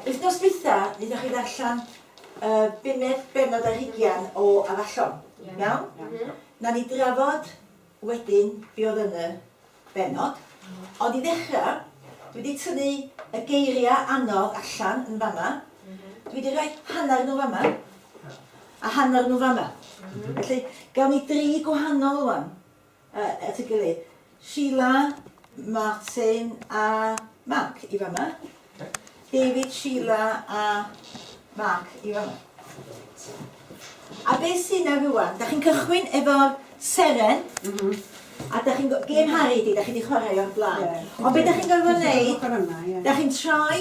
Wythnos dwytha naethoch chi ddarllen y bumed bennod ar hugian o Afallon, iawn? Nawn ni drafod wedyn be oedd yn y bennod. Ond i ddechrau, dwi wedi tynnu y geiriau anodd allan yn fanna. Dwi wedi rhoi hanner nhw fanna a hanner nhw fanna. Felly, gawn ni dri gwahanol ŵan. at ei gilydd. Sheila, Martin a Mark i fama. David, Sheila a Mark i fama. A be sy'n na rwan, da chi'n cychwyn efo'r seren, mm -hmm. a da chi'n gêm Harry di, da chi wedi chwarae o'r blaen. Yeah. Ond be da chi'n gorfod wneud, da chi'n troi